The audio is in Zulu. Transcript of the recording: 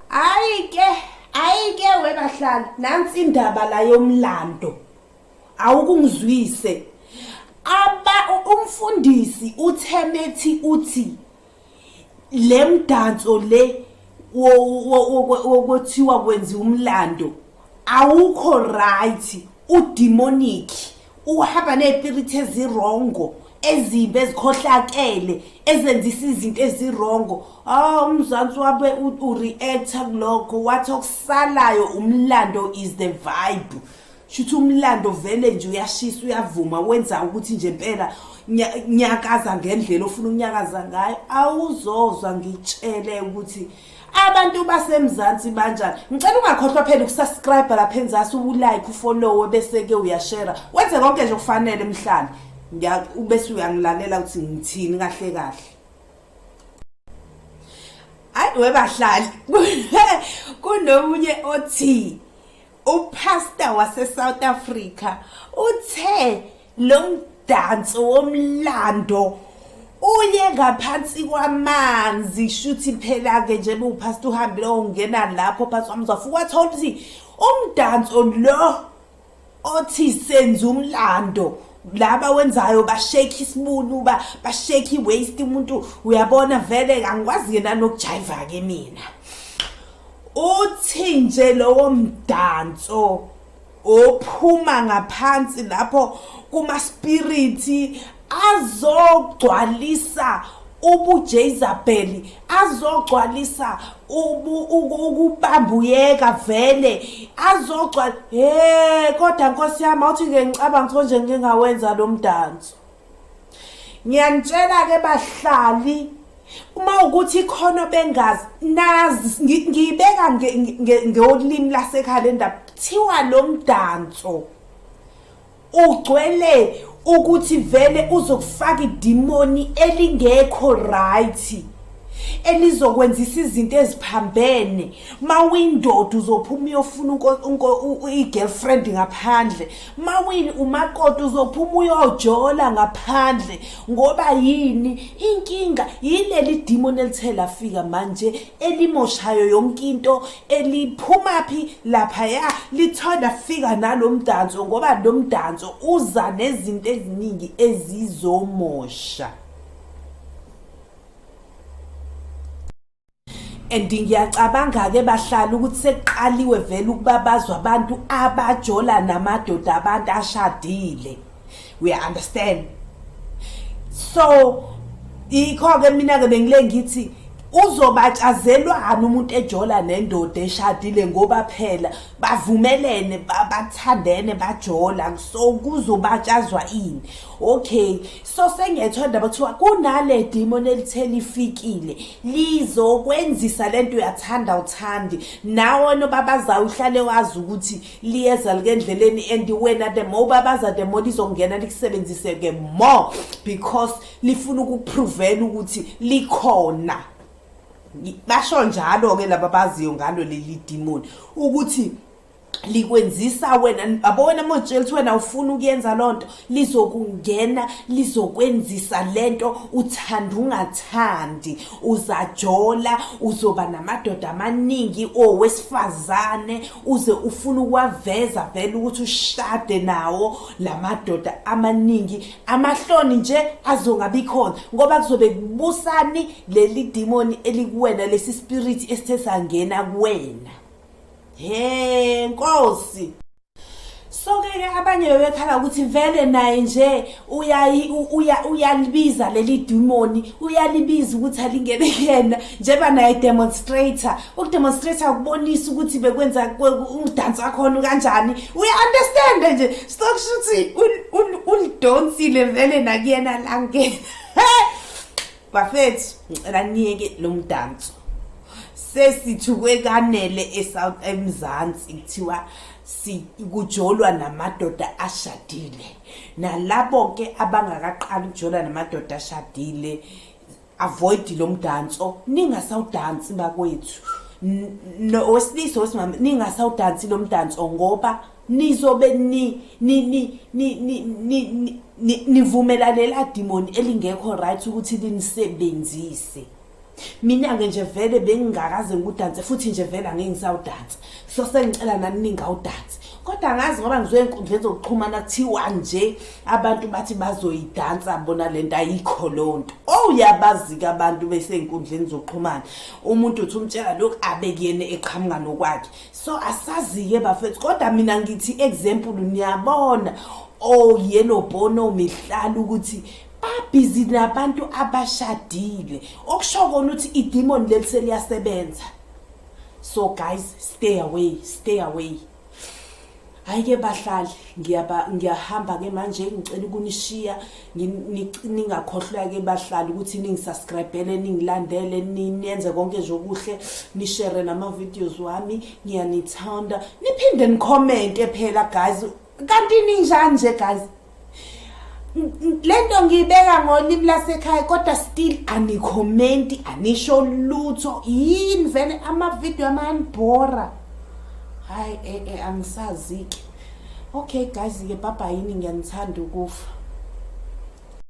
Hayi ke, hayi ke webahlali, nansi indaba la yomlando. Awukungizwise. Aba umfundisi uthemethi uthi lemdanso le wokwethiwa kwenza umlando awukho right udemonic uhamba ney'piriti ezirongo ezimbi ezikhohlakele ezenzisa izinto ezirongo ah umzansi wabe ureacta kulokho wathi okusalayo umlando is the vibe shuthi umlando vele nje uyashisa uyavuma wenza ukuthi nje impela nyakaza ngendlela ofuna ukunyakaza ngayo awuzozwa ngitshele ukuthi abantu basemzansi banjani ngicela ungakhohlwa phela ukusubscribe lapha enzasi ulike ufollowe bese-ke uyashera wenze konke nje okufanele mhlana ubese uyangilalela ukuthi ngithini kahle kahle hayi webahlali kunomunye othi upastor wasesouth africa uthe Lo mdanso womlando uye ngaphansi kwamanzi shuthi phela-ke nje bewuphasta uhambile ongena lapho phansi kwamanzi wafuka wathola ukuthi umdanso lo othi senza umlando laba wenzayo bashake isibunu ba bashake iwaist umuntu uyabona vele angikwazi yena nokujayiva ke mina uthi nje lowo mdanso ophuma ngaphansi lapho kumaspiriti azogcwalisa ubujezabheli azogcwalisa ukubambuyeka vele azogcwala he kodwa nkosi yami awuthi-ke ngicabanga ukuthi konje ngike ngawenza lo mdanso ngiyanitshela ke bahlali uma ukuthi ikhona bengazi nazi ngiyibeka ngolimi lasekhaya le ndaba kuthiwa lo mdanso ugcwele ukuthi vele uzokufaka idimoni elingekho right elizokwenzisa izinto eziphambene mawuyindoda uzophuma uyofuna i-girlfriend ngaphandle mawini umakoti uzophuma uyojola ngaphandle ngoba yini inkinga yileli demon elithe lafika manje elimoshayo yonke into eliphuma phi lapha ya lithanda fika nalomdanso ngoba lomdanso uza nezinto eziningi ezizomosha and ngiyacabanga-ke bahlala ukuthi sekuqaliwe vele ukubabazwa abantu abajola namadoda abantu ashadile we understand so ikho-ke mina-ke bengile ngithi uzobatshazelwani umuntu ejola nendoda eshadile ngoba phela bavumelene bathandene bajola so kuzobatshazwa ini okay so sengethwa ndaba kuthiwa kunale demon elithe lifikile lizokwenzisa le nto uyathanda uthandi nawe nobabazayo uhlale wazi ukuthi liyeza likendleleni and wena the more ubabaza the more lizongena likusebenzise-ke more because lifuna ukupruvela ukuthi likhona basho njalo-ke laba baziyo ngalo leli demon ukuthi likwenzisa wena abo wena mojela ukuthi wena ufuna ukuyenza loo nto lizokungena lizokwenzisa le nto uthanda ungathandi uzajola uzoba namadoda amaningi owesifazane uze ufuna ukuwaveza vele ukuthi ushade nawo la madoda amaningi amahloni nje azongabi khona ngoba kuzobe kubusani leli dimoni elikuwena lesi spirit esithe sangena kuwena he nkosi soke-ke abanye bebekhala ukuthi vele naye nje uyalibiza leli dimoni uyalibiza ukuthi alingene kuyena njengoba naye demonstrator ukudemonstrator ukubonisa ukuthi bekwenza umdansi wakhona kanjani uya-understande nje sokusho ukuthi ulidonsile vele nakuyena langena bafethu ngicela niyeke lo mdanso sesithukwe kanele eSouth eMzansi kuthiwa sikujolwa namadoda ashadile nalabo ke abangakaqali ukujola namadoda ashadile avoid lo mdanso ningasawudansi bakwethu wesilisa wesimama ningasawudansi lo mdanso ngoba nizobe ni ni ni ni ni ni ni nivumelalela demon elingekho right ukuthi linisebenzise mina ke nje vele bengingakaze ngikudanse futhi nje vele angeke ngisawudanse so sengicela nani ningawudansi kodwa ngazi ngoba ngizoya enkundleni zokuxhumana kuthiwa nje abantu bathi bazoyidansa bona le nto ayikho loo nto owuyabazi-ke oh, abantu besey'nkundleni zokuxhumana umuntu uthi umtshela lokhu abe kuyena eqhamuka nokwakhe so asazi-ke bafethu kodwa mina ngithi example niyabona oyelo oh, bono mihlala ukuthi babhizi nabantu abashadile okusho kona ukuthi idemon leli seliyasebenza so guys stay away stay away hayi ke bahlali ngiyaba ngiyahamba ke manje ngicela ukunishiya ningakhohlwa ke bahlali ukuthi ningisubscribele ningilandele ninenze konke nje okuhle nishare nama videos wami ngiyanithanda niphinde nicommente phela guys kanti ninjani nje guys lento ngiyibeka ngolimi lasekhaya kodwa still anikhomenti anisho lutho yini vele amavidiyo amanibhora hayi e, e, angisazi-ke okay guys-ke bhabhayini ngiyanithanda ukufa